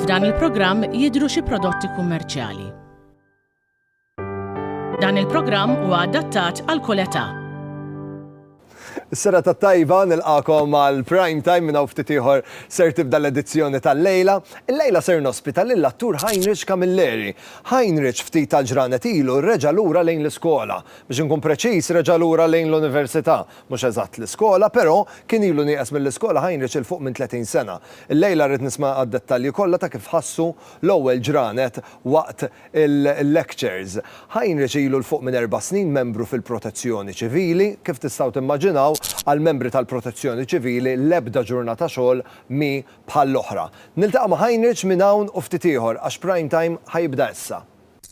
F'dan il-programm jidhru xi prodotti kummerċjali. Dan il-programm huwa adattat għal kull età. Is-sera ta' tajba nilqakom għal prime time minn hawn ftit ieħor ser tibda l-edizzjoni tal-lejla. Il-lejla ser nospita lil attur Heinrich Camilleri. Heinrich ftit tal-ġranet ilu reġa' lura lejn l-iskola. Biex inkun preċiż, reġa' lura lejn l-università. Mhux eżatt l-iskola, però, kien ilu nieqes mill-iskola Heinrich 'il fuq minn tletin sena. Illejla rrid nisma' għad-dettalji kollha ta' kif ħassu l-ewwel ġranet waqt il-lectures. Heinrich ilu 'l fuq minn erba' snin membru fil-Protezzjoni Ċivili. Kif tistgħu timmaġinaw, għall-membri tal-Protezzjoni Ċivili l-ebda ġurnata xogħol mhi bħall-oħra. Niltaqa' ma' Heinrich minn hawn u ftit ieħor, għax Prime Time ħa jibda issa.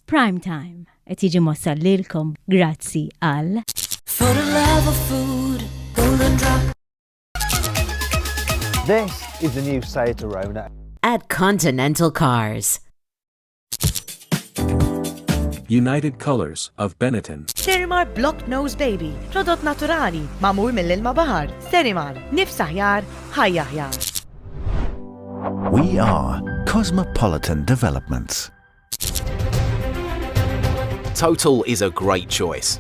Prime Time, Qed jiġi mwassal lilkom grazzi għal. For the love of food, golden drop. This is the new Seat Arona. At Continental Cars. United Colors of Benetton. Sterimar Block Nose Baby, prodott naturali, mamur mill-ilma bahar. Sterimar, nifs aħjar, ħajja aħjar. We are Cosmopolitan Developments. Total is a great choice.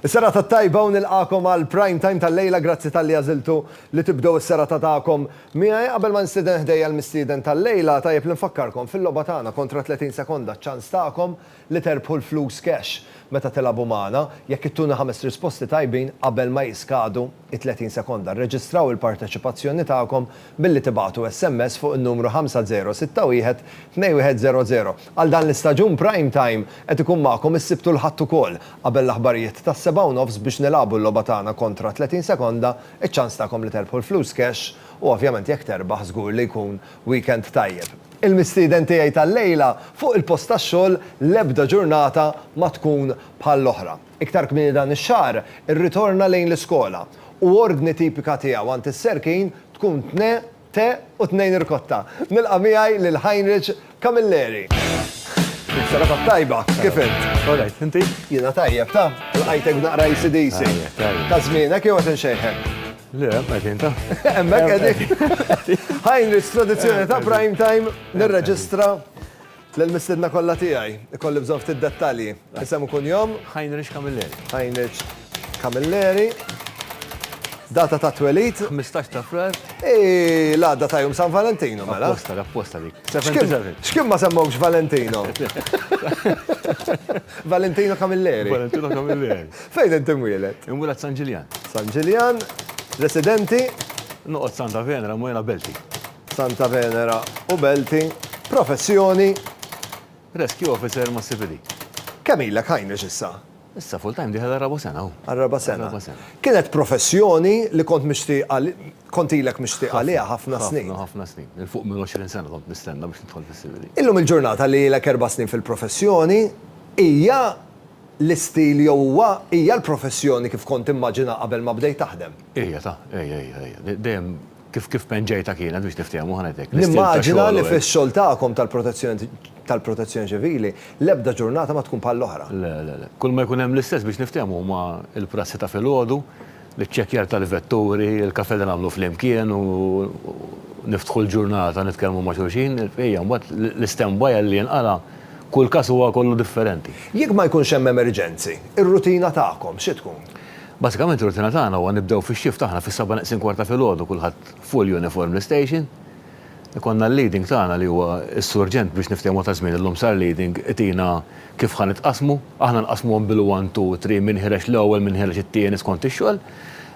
Is-sera ta' tajba u nilqakom għal prime time tal-lejla grazzi tal-li għaziltu li tibdow is-sera ta' ta'kom. Miħaj qabel ma nistiden ħdejja l-mistiden tal-lejla tajjeb l-infakkarkom fil-loba tagħna kontra 30 sekonda ċans ta'kom li terbħu l-flus cash meta tilagħbu magħna, jekk ittuna ħames risposti tajbin qabel ma jiskadu it-30 sekonda. Rreġistraw il-parteċipazzjoni tagħkom billi tibagħtu SMS fuq in-numru 5061 2100. Għal dan l-istaġun Prime Time qed ikun magħkom is-Sibt u l-Ħadd ukoll. Qabel l-aħbarijiet tas-sebgħa u nofs biex nilagħbu l-logħba tagħna kontra 30 sekonda, iċ-ċans tagħkom li terbħu l-flus cash u ovvjament jekk terbaħ żgur li jkun weekend tajjeb. Il-mistieden tiegħi tal-lejla, Fuq il-post tax-xogħol l-ebda ġurnata ma tkun bħall-oħra. Iktar kmieni dan ix-xahar irritorna lejn l-iskola u ordni tipika tiegħu għand is-Serkin tkun tne te u tnejn irkotta. Nilqa' miegħi lil Heinrich Camilleri. Dik serata tajba, kif int? All right, inti? Jiena tajjeb, taf, lqajtek b'naqra AC/DC. Ta' żmienek jew qed inxejħek? Le, għedin ta' emmek għedin. Heinrich, tradizjoni ta' prime time, nirreġistra l-mistedna kolla tijaj, kolli bżon ftit dettali. Isem kun jom? Heinrich Camilleri. Heinrich Camilleri. Data ta' twelit? 15 ta' frar. Ej, la, data jum San Valentino, mela. Apposta, apposta dik. Xkim ma semmawx Valentino? Valentino Camilleri. Valentino Camilleri. Fejn int imwieled? Inwieled San Ġiljan. San Ġiljan. Residenti? Noqgħod Santa Venera, Mwera Belti. Santa Venera u Belti. Professjoni? Rescue Officer ma' CPD. Kemm ilek Heinrich issa? Issa full time dieħel għar-raba' sena hu. Għar-raba' sena. Kienet professjoni li kont mixtieq kont ilek mixtieq għaliha ħafna snin. Ħafna, ħafna snin. Il fuq minn 20 sena kont nistenna biex nidħol fis-CPD. Illum il-ġurnata li ilek erba' snin fil-professjoni hija L-istil jew huwa, hija l-professjoni kif kont timmaġina qabel ma bdejt taħdem? Hija ta', hija, hija, hija. Dejjem kif, kif penġejtha kienet biex niftehmu ħa ngħidlek, l-istil ta' xogħol u hekk. Nimmaġina li fix-xogħol tagħkom tal-protezzjoni, tal-protezzjoni ċivili, l-ebda ġurnata ma tkun bħall-oħra. Le, le, le. Kull ma jkun hemm l-istess biex niftehmu huma l-prassi ta' filgħodu, L-iċċekkjar tal-vetturi, il-kafè li nagħmlu flimkien u niftħu l-ġurnata nitkellmu ma' xulxin, ejja, mbagħad l-istand by għal li jinqala' kull każ huwa kollu differenti. Jekk ma jkunx hemm emerġenzi, ir-rutina tagħkom xi tkun? Basikament ir-rutina tagħna huwa nibdew fix-shift aħna fis-seba' neqsin kwarta filgħodu kulħadd full uniform l-istation, Ikollna l-leading tagħna li huwa s-surġent biex niftehmu ta' żmien illum sar leading itina kif ħa nitqassmu, aħna nqassmuhom bil-one, two, three, min ħireġ l-ewwel, min ħireġ it-tieni skont ix-xogħol.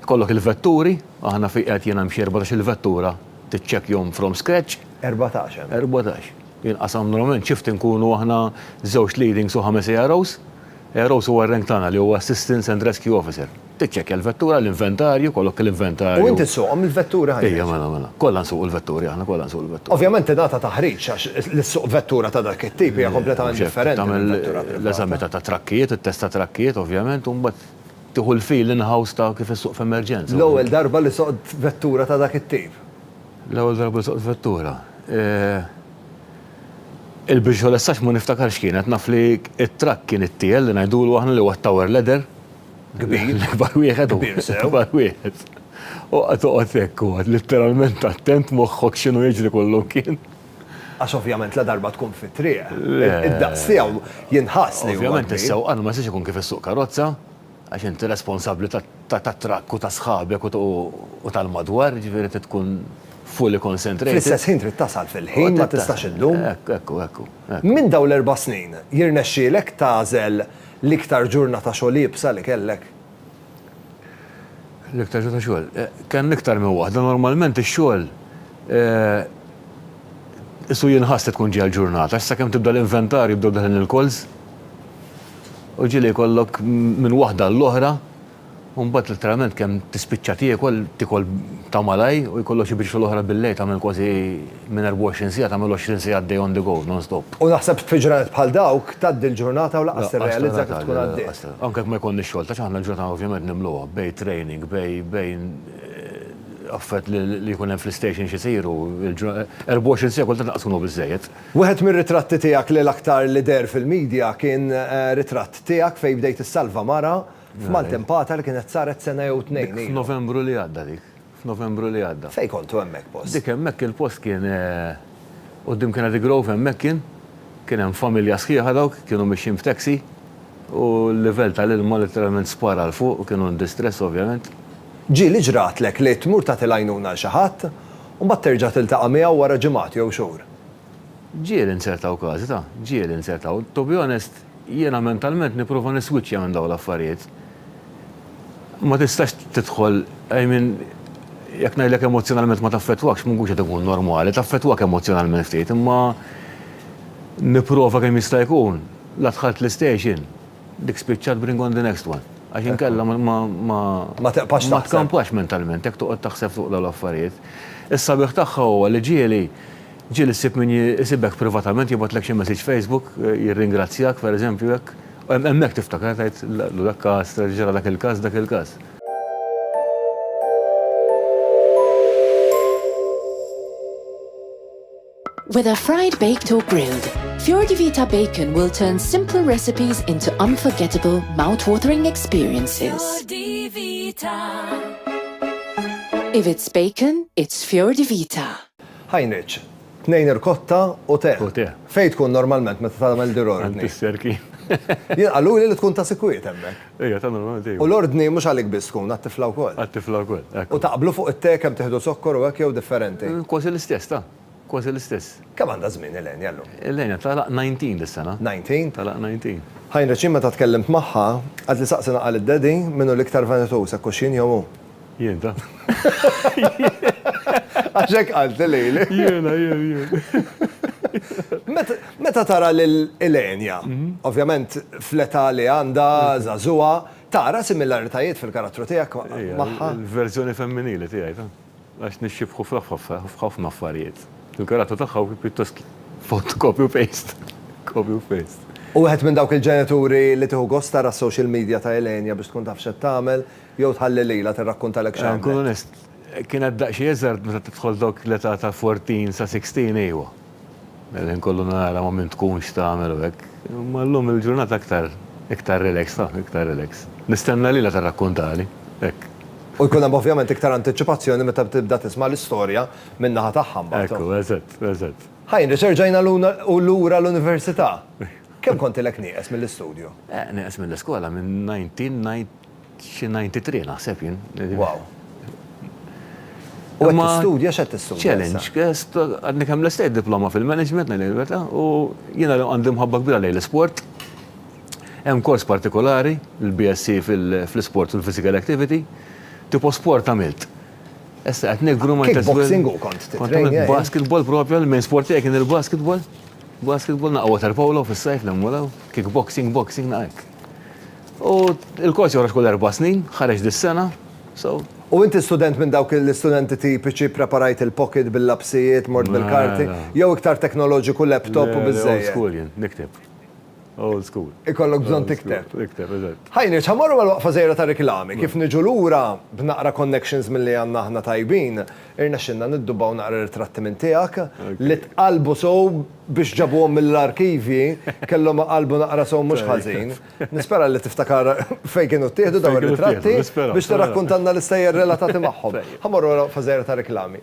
Ikollok il-vetturi, aħna fi qiegħed jien hemm xi erbatax-il vettura tiċċekkjhom from scratch. Erbatax hemm. Erbatax. Jinqasam normalment shift inkunu aħna żewġ leadings u ħames AROs. Eros huwa r-rank tagħna li huwa Assistance and Rescue Officer. Tiċċekkja l-vettura, l-inventarju, jkollok l-inventarju. U inti ssuqhom il-vetturi ħajjat? Ejja, mela, mela. Kollha nsuqu l-vetturi aħna, kollha nsuqu l-vetturi. Ovvjament tingħata taħriġ għax li ssuq vettura ta' dak it-tip hija kompletament differenti minn vettura privata. Tagħmel l-eżami ta' trakkijiet, it-test ta' trakkijiet ovvjament u mbagħad tieħu l-feel in-house ta' kif issuq f'emerġenza. L-ewwel darba li soqt vettura ta' dak it-tip? L-ewwel darba li soqt vettura? Il-bridge ħu lessax ma niftakarx x'kienet, naf li t-trakk kien it-tiel li ngħidulu aħna li huwa t-tower ladder. Kbir. L-ikbar wieħed u Kbir sew. L-ikbar wieħed. U qatt toqgħod hekk u qatt litteralment attent moħħok x'inhu jiġri kollu mkien. Għax ovvjament ladarba tkun fit-triq, id-daqs tiegħu jinħass li huwa kbir. Ovvjament is-sewqan ma jistax ikun kif issuq karozza. Għax inti responsabbli tat-trakk u ta' sħabek u tal-madwar, jiġifieri trid tkun fully concentrated. Fl-istess ħin trid tasal fil-ħin, ma tistax iddum. Hekk, hekk hu, hekk hu. Minn dawn l-erba' snin, jirnexxielek tagħżel l-iktar ġurnata xogħol iebsa li kellek? L-iktar ġurnata xogħol? Kellna iktar minn waħda. Normalment ix-xogħol qisu jinħass li tkun ġejja l-ġurnata, għax sakemm tibda l-inventarju jibdew deħlin il-calls. U ġieli jkollok minn waħda għall-oħra u mbagħad letteralment kemm tispiċċa tiekol, tiekol ta' malajr u jkollok xi biex fil-oħra billejl tagħmel kważi minn 24 siegħa tagħmel 20 siegħa għaddej on the go, non stop. U naħseb fi ġranet bħal dawk tgħaddi l-ġurnata u lanqas tirrealizza kif tkun għaddiet. Anke jekk ma jkollniex xogħol, tax aħna l-ġurnata ovvjament nimluha bejn training, bejn affarijiet li jkun hemm fl-istations isiru, 24 siegħa kultant lanqas ikunu biżżejjed. Wieħed mir-ritratti tiegħek li l-aktar li deher fil-media kien ritratt tiegħek fejn bdejt issalva mara f'maltempata li kienet saret sena jew tnejn ilu. Dik f'Novembru li għadda dik. F'Novembru li għadda. Fejn kontu hemmhekk post? Dik hemmhekk il-post kien quddiem Kennedy Grove hemmhekk kien. Kien hemm familja sħiħa dawk kienu mixjin b'taxi u l-livell tal-ilma letteralment spara 'l fuq u kienu in distress ovvjament. Ġieli ġratlek li tmur tagħti l-għajnuna 'l xi ħadd U mbagħad terġa' tiltaqa' miegħu wara ġimgħat jew xhur. Ġieli nsertaw każi ta', ġieli nsertaw. To be honest, jiena mentalment nipprova niswiċċja minn dawn l-affarijiet. Ma tistax tidħol, I mean, jekk ngħidlek emozzjonalment ma taffettwakx, ma nkunx qed inkun normali, taffettwak emozzjonalment ftit, imma nipprova kemm jista' jkun. La dħalt l-istation. Dik spiċċat bring on the next one. Għax inkella ma. Ma teqpax taħseb. Ma tkampax mentalment, jekk toqgħod taħseb fuq dawn l-affarijiet. Is-sabiħ tagħha huwa li ġieli, ġieli ssib min isibek privatament jibgħatlek xi message Facebook, jirringrazzjak, pereżempju hekk. Hemmhekk tiftakar tgħid dak każ, ġara dak il-każ, dak il-każ. Whether fried, baked or grilled, Fiordi Vita Bacon will turn simple recipes into unforgettable, mouth-watering experiences. Fiordi Vita. If it's bacon, it's Fiordi Vita. Ħajniċ, tnejn irkotta u te. U te. Fejn tkun normalment meta tagħmel dirorni? Għand is-serki. Jien qaluli li tkun ta' sikwiet hemmhekk. Ejja, tagħna l-onor dejjem. U l-ordni mhux għalik biss tkun, għat-tifla wkoll. Għat-tifla wkoll, hekk. U taqblu fuq it-te kemm tieħdu zokkor u hekk jew differenti? Kważi l-istess, ta'. Kważi l-istess. Kemm għandha żmien Elenia llum? Elenia tagħlaq 19 dis-sena. 19? Tagħlaq 19. Heinrich, jien meta tkellimt magħha, qaltli saqsi naqal id-daddy min hu l-iktar vanituż, hekk hux jien jew hu. Jien ta. Għax hekk qalt lili. Jiena, jien, jien. Meta tara lil Ilenia, mhm. ovvjament fl-età li għandha żagħżugħa, tara similaritajiet fil-karattru tiegħek magħha. Il-verżjoni femminili tiegħi ta' għax nixxibħu f'ħafna affarijiet. Il-karattru tagħha pjuttost font copy u paste. Copy u paste. U għed minn dawk il-ġenituri li tiħu gosta ra social media ta' Elenia biex tkun taf xed tagħmel, Jew tħalli lilha tirrakkuntalek xi għamlet? Nkun onest, kien għad daqsxejn iżgħar meta tidħol dawk l-età ta' fourteen sa sixteen ejwa. Il-ħin kollu nara ma' min tkun, x'tagħmel u hekk. Imma llum il-ġurnata aktar, iktar relax, taf, iktar relax. Nistenna lilha tirrakkuntali, hekk. U jkun hemm ovvjament iktar antiċipazzjoni meta tibda tisma' l-istorja minn naħa tagħha mbagħad. Ekku, eżatt, eżatt. Heinrich, erġajna lura l-università. Kemm kontilek nieqes mill-istudju? Eh, nieqes mill-iskola minn nineteen ninety. Xi 93 naħseb jien. Wow. U qed tistudja x'qed tistudja? Challenge. Għadni kemm l-estate diploma fil-management ngħid il-verità u jiena għandi mħabba kbira lejn l-isport. Hemm kors partikolari, il-BSc fl-isport u l-physical activity, tipo sport għamilt. Issa qed nigru ma' Kickboxing u kont titrejn. Basketball propja, l-main sport tiegħi kien il-basketball. Basketball naqgħu water polo fis-sajf nemmulaw, kickboxing, boxing naqgħek. U l-kors joħroġ kull erba' snin, ħareġ dis-sena, so. U inti student minn dawk l-istudenti tipiċi, preparajt il-pocket bil-lapsijiet, mort bil-karti, jew iktar teknoloġiku, laptop u biżżejjed? Old school jien, nikteb. Old school. Ikollok bżonn tikteb. Nikteb, eżatt. Hi Nirċ, ħa mmorru għal waqfa żgħira ta' riklami. Kif niġu lura, b'naqra connections milli għandna aħna tajbin, irnexxielna niddubbaw naqra ritratti minn tiegħek, li tqallbu sew. Biex ġabuhom mill-arkivji, kellhom iqallbu naqra sew mhux ħażin. Nispera li tiftakar fejn kienu ttieħdu dawn ir-ritratti biex tirrakkuntalna l-istejjer relatati magħhom. Ħa mmorru ora waqfa żgħira ta' riklami.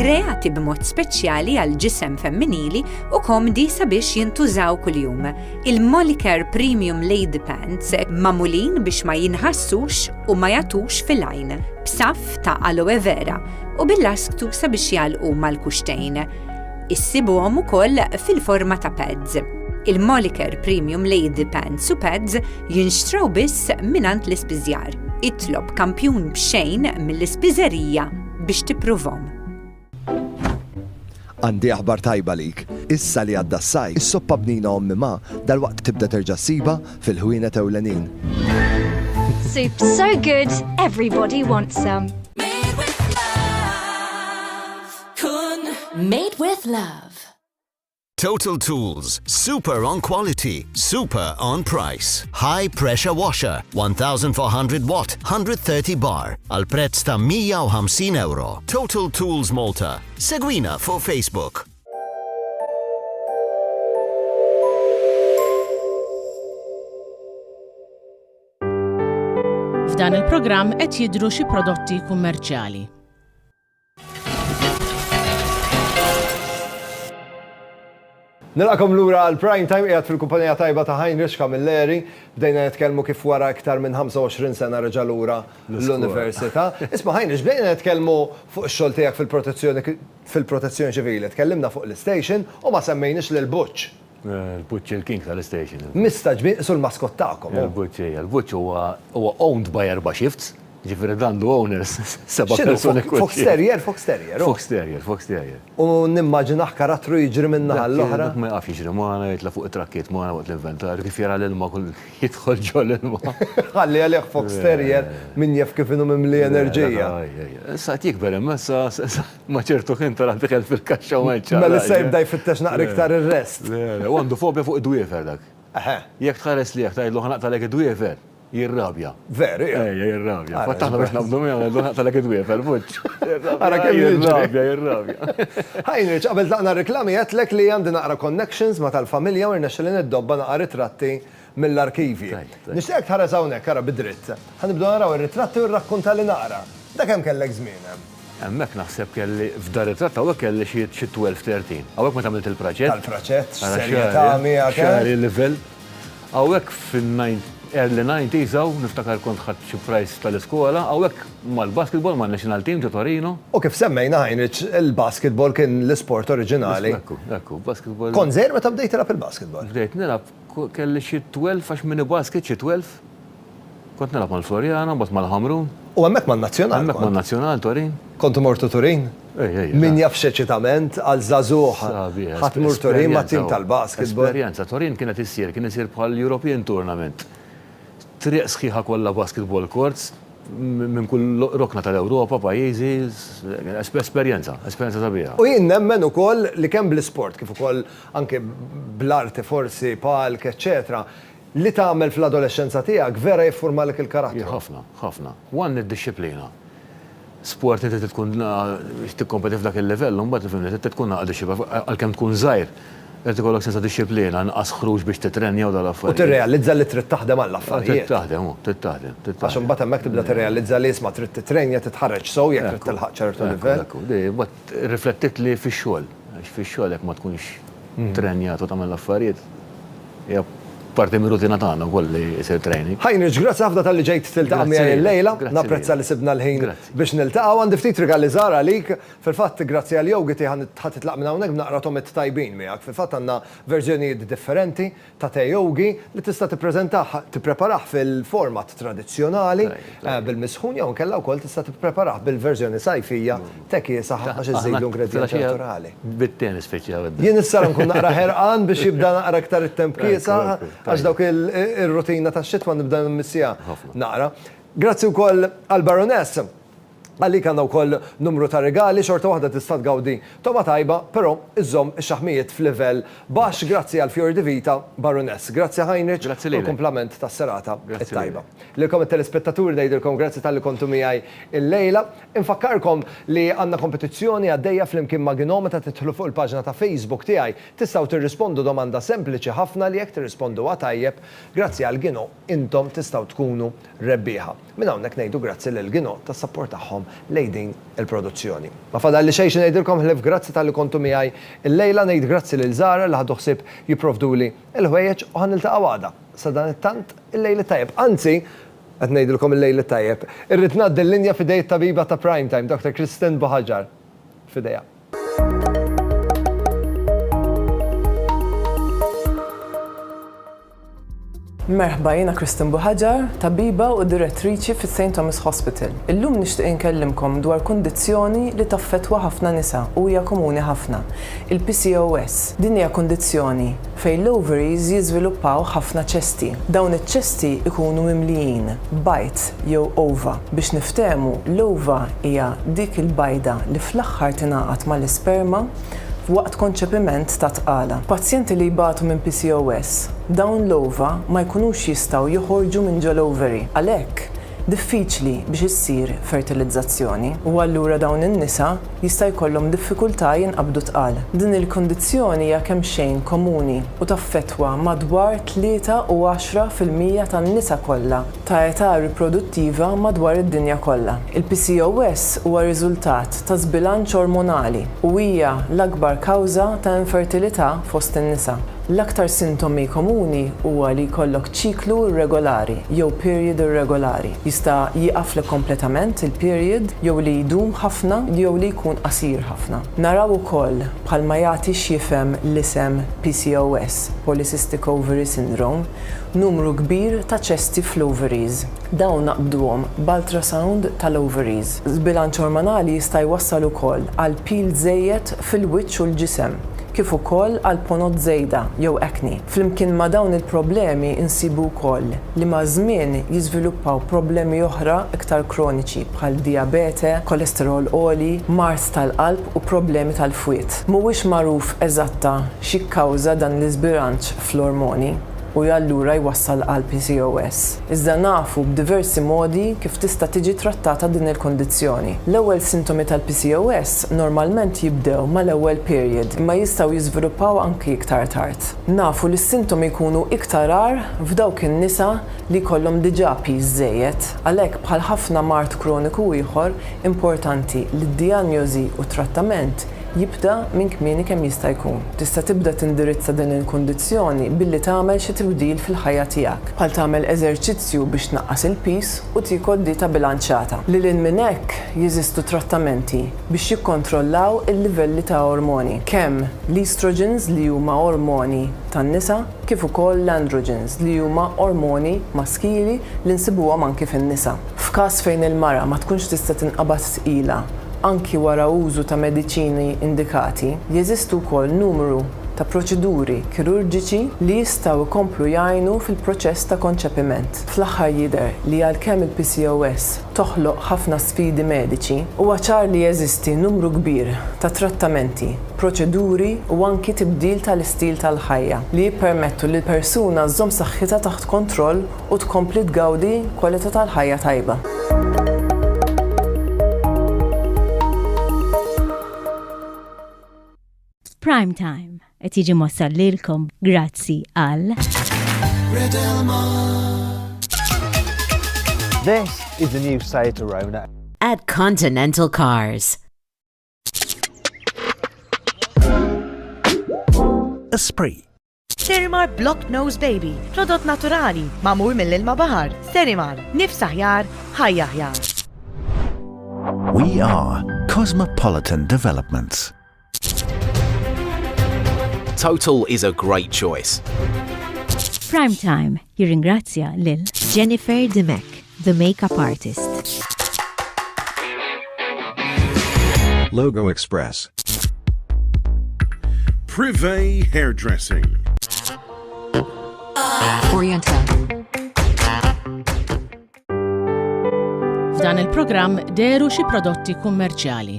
kreati b'mod speċjali għal ġisem femminili u komdi sabiex jintużaw kuljum. Il-Molicare Premium Lady Pants mamulin biex ma jinħassux u ma jatux fil-għajn, b'saf ta' aloe vera u bil-lasktu sabiex jgħalqu mal-kuxtejn. Issibuhom ukoll fil-forma ta' pads. Il-Moliker Premium Lady Pants u Pads jinxtraw biss minant l-ispiżjar. Itlob kampjun b'xejn mill-ispiżerija biex tippruvhom. Għandi aħbar tajba għalik. Issa li għadda s-sajf, is-soppa bnina Ommi Ma dalwaqt tibda terġa' ssibha fil-ħwienet ewlenin. Soup so good, everybody wants some. Made with love. Kun. Made with love. Total Tools, super on quality, super on price. High pressure washer, 1400 watt, 130 bar, al prezz ta' 150 euro. Total Tools Malta, Segwina fuq Facebook. F'dan il-programm qed jidhru xi prodotti kummerċjali. Nilqagħkom lura għal Prime Time qiegħed fil-kumpanija tajba ta' Heinrich Camilleri. Bdejna nitkellmu kif wara iktar minn 25 sena reġa' lura l-Università. Isma' Heinrich, bdejna nitkellmu fuq ix-xogħol tiegħek fil-protezzjoni fil-Protezzjoni Ċivili. Tkellimna fuq l-istation u ma semmejniex lil Butch. Il-Butch hi l-king tal-istation. Mistagħġbin, qisu l-mascot tagħkom hu. Il-Butch, ejja. Il-Butch huwa owned by erba' shifts. Ġifiri dan du owners, seba persuni kull. Fox Terrier, Fox Terrier. Fox Terrier, Fox Terrier. U nimmaġinaħ karattru jiġri minn naħa l-oħra. Ma jaqaf jiġri maħna, jitla fuq it-trakkiet maħna waqt l-inventar, kif jara l-ilma kull jidħol ġo l-ilma. Għalli għalih Fox Terrier minn jaf kif inu mimli enerġija. Sa jikber imma sa maċertu kien tara dikel fil-kaxxa u għedċa. Mela sa jibda jfittex naqra iktar il-rest. Għandu fobja fuq id-dwiefer dak. Jek tħares li jek tajdlu ħanaqtalek id-dwiefer. Jirrabja. Veru, ja. Ejja, jirrabja. Fatt aħna biex nabdu miegħu għandu ħaqtalek id-dwiefel, fuċ. Ara kemm jirrabja, jirrabja. Heinrich, qabel tlaqna reklami għedtlek li għandi naqra connections ma' tal-familja u rnexxilli niddobba naqra ritratti mill-arkivji. Nixtieqek tħares hawnhekk, ara bi dritt. Ħa nibdew naraw ir-ritratti u rrakkuntalli naqra. Da kemm kellek żmien hemm? Hemmhekk naħseb kelli, f'dan ritratt hawnhekk kelli xi xi twelve, thirteen. Hawnhekk meta għamilt il-praċett. Tal-praċett, b'serjetà miegħek, eh? Xagħri livell. Hawnhekk fin-nine, early nineties hawn, niftakar kont ħadt xi prize tal-iskola, hawnhekk mal-basketball man-national team ġo Torino. U kif semmejna, Heinrich, il-basketball kien l-isport oriġinali. Ekku, ekku, basketball. Kont żgħir meta bdejt tilgħab il-basketball? Bdejt nilgħab Kelli xi twelf għax mini basket xi twelf. Kont nilgħab mal-Floriana, mbagħad mal-Ħamrun. U hemmhekk man-Nazzjonal. Hemmhekk man-Nazzjonal Turin. Kont imur tu Turin? Ej, ej. Min jaf x'eċitament għal żagħżugħ. Sabiħ. Ħadd mur Turin mat-tim tal-basketball. Esperjenza. Turin kienet issir, kien isir bħal European Tournament. Triq sħiħa kollha basketball courts minn kull rokna tal-Ewropa, pajjiżi, esperjenza, esperjenza sabiħa. U jien nemmen ukoll li kemm bl-isport kif ukoll anke bl-arti forsi, palk, eċċetera, li tagħmel fl-adolexxenza tiegħek vera jiffurmalek il-karattru. Ħafna, ħafna. One id-dixxiplina. Sport inti trid tkun biex tikkompeti f'dak il-livell u mbagħad fimni trid tkun naqra dixxiplina għalkemm tkun żgħir irid ikollok sens ta' dixxiplina, inqas ħruġ biex titrenja u dawn l-affarijiet. U tirrealizza li trid taħdem għall-affarijiet. Trid taħdem, trid taħdem, trid taħdem. Għax imbagħad hemmhekk tibda tirrealizza li isma' trid titrenja, titħarreġ sew jekk trid tilħaq ċertu livell. Ekku, ekku, di, imbagħad irriflettitli fix-xogħol. Għax fix-xogħol jekk ma tkunx trrenjat u tagħmel l-affarijiet, hija parti mir-rutina tagħna wkoll li jsir training. Heinrich, grazzi ħafna talli ġejt tiltaqa' miegħi illejla. Napprezza li sibna l-ħin biex niltaqgħu. Għandi ftit rigali żgħar għalik. Fil-fatt, grazzi għall-yogiti ħa titlaq minn hawnhekk b'naqra tomit tajbin miegħek. Fil-fatt għandna verżjonijiet differenti. ta' te yogi li tista' tippreżentah, tippreparah fil-format tradizzjonali bil-misħun jew inkella wkoll tista' tippreparah bil-verżjoni sajfija, te kiesaħ ħafna xi żżidlu ingredjenti naturali. Bit-te nispiċċaw id-darba. Jien issa nkun naqra ħerqan biex jibda naqra iktar it-temp kiesaħ għax dawk ir-rutina tax-xitwa nibda nmissiha naqra. Grazzi wkoll għall-Baroness. Għalik għandna wkoll numru ta' rigali, xorta waħda tista' tgawdi togħma tajba, però iżżomm ix-xaħmijiet f'livell baxx grazzi għal Fior di Vita Baroness. Grazzi Heinrich u l-kumplament tas-serata t-tajba. Lilkom it-telespettaturi ngħidilkom grazzi talli kontu miegħi l-lejla. Infakkarkom li għandna kompetizzjoni għaddejja flimkien ma' Gino meta tidħlu fuq il-paġna ta' Facebook tiegħi tistgħu tirrispondu domanda sempliċi ħafna li jekk tirrisponduha tajjeb, grazzi għal Gino intom tistgħu tkunu rebbieħa. Minn hawnhekk ngħidu grazzi lil Gino tas-sapport tagħhom lejn din il-produzzjoni. Ma fadalli xejn xi ngħidilkom ħlief grazzi talli kontu miegħi illejla, ngħid grazzi lil Zahra li ħadu ħsieb jipprovduli l-ħwejjeġ u ħa niltaqgħu għada. Sadanittant, il-lejl it-tajjeb. Anzi, qed ngħidilkom il-lejl it-tajjeb. Irrid ngħaddi l-linja f'idej it-tabiba ta' Prime Time, Doctor Kristen Buhagiar. F'idejha. Merħba, jiena Kristin Buħaġar, tabiba u direttriċi fi St. Thomas Hospital. Illum nixtieq inkellimkom dwar kundizzjoni li taffettwa ħafna nisa u hija komuni ħafna, il-PCOS. Din hija kundizzjoni fejn l-ovaries jiżviluppaw ħafna ċesti. Dawn iċ-ċesti jkunu mimlijin bajd jew ova. Biex niftehmu, l-ova hija dik il-bajda li fl-aħħar tingħaqad mal-isperma. f'waqt konċepiment ta' tqala. Pazjenti li jbatu minn PCOS, dawn l-ova ma jkunux jistgħu joħorġu minn ġol-ovary, għalhekk diffiċli biex issir fertilizzazzjoni, u allura dawn in-nisa jista' jkollhom diffikultà jinqabdu tqal. Din il-kundizzjoni hija kemxejn komuni u taffettwa madwar tlieta u għaxra fil-mija tan-nisa kollha. ta' età riproduttiva madwar id-dinja kollha. Il-PCOS huwa riżultat ta' żbilanċ ormonali u hija l-akbar kawża ta' infertilità fost in-nisa. L-aktar sintomi komuni huwa li jkollok ċiklu irregolari jew period irregolari. Jista' jieqaflek kompletament il-period jew li jdum ħafna jew li jkun qasir ħafna. Naraw ukoll, bħalma jagħti x'jifhem l-isem PCOS, Polycystic Ovary Syndrome, Numru kbir ta' ċesti fl-ovaries. Dawn naqbduhom b'ultrasound tal-ovaries. Żbilanċ ormonali jista' jwassal ukoll għal pil żejjed fil-wiċċ u l-ġisem, kif ukoll għal ponot żejda jew acne. Flimkien ma' dawn il-problemi nsibu wkoll li maż-żmien jiżviluppaw problemi oħra iktar kroniċi bħal dijabete, kolesterol għoli, mard tal-qalb u problemi tal-fwied. Mhuwiex magħruf eżatta x'jikkawża dan l-iżbilanċ fl-ormoni u allura jwassal għal PCOS. Iżda nafu b'diversi modi kif tista' tiġi trattata din il-kundizzjoni. L-ewwel sintomi tal-PCOS normalment jibdew mal-ewwel period imma jistgħu jiżviluppaw anki iktar tard. Nafu li s-sintomi jkunu iktar agħar f'dawk in-nisa li jkollhom diġà piż żejjed. Għalhekk bħal ħafna mard kroniku ieħor, importanti li d-dijanjosi u t-trattament jibda minn kmieni kemm jista' jkun. Tista' tibda tindirizza din il-kundizzjoni billi tagħmel xi tibdil fil-ħajja tiegħek, bħal tagħmel eżerċizzju biex tnaqqas il-piż u tiekol dieta bilanċjata. Lil hinn minn hekk, jeżistu trattamenti biex jikkontrollaw il-livelli ta' ormoni, kemm l-estrogens li huma ormoni tan-nisa, kif ukoll l-androgens li huma ormoni maskili li nsibuhom anki fin-nisa. F'każ fejn il-mara ma tkunx tista' tinqabad tqila anki wara użu ta' mediċini indikati, jeżistu wkoll numru ta' proċeduri kirurġiċi li jistgħu jkomplu jgħinu fil-proċess ta' konċepiment. Fl-aħħar jidher li għalkemm il-PCOS toħloq ħafna sfidi mediċi, huwa ċar li jeżisti numru kbir ta' trattamenti, proċeduri u anki tibdil tal-istil tal-ħajja li jippermettu li l-persuna żżomm saħħitha taħt kontroll u tkompli tgawdi kwalità tal-ħajja tajba. Prime Time qed jiġi mossa lilkom grazzi għal This is the new site Rona at Continental Cars. Esprit Sterimar Block Nose Baby, prodott naturali, magħmul mill-ilma baħar. Sterimar, nifs aħjar, ħajja aħjar. We are Cosmopolitan Developments. Total is a great choice. Prime Time Jirringrazzja lil Jennifer Dimech, the makeup artist. Logo Express. Privé Hairdressing. Oriental. F'dan il-programm deru xi prodotti kummerċjali.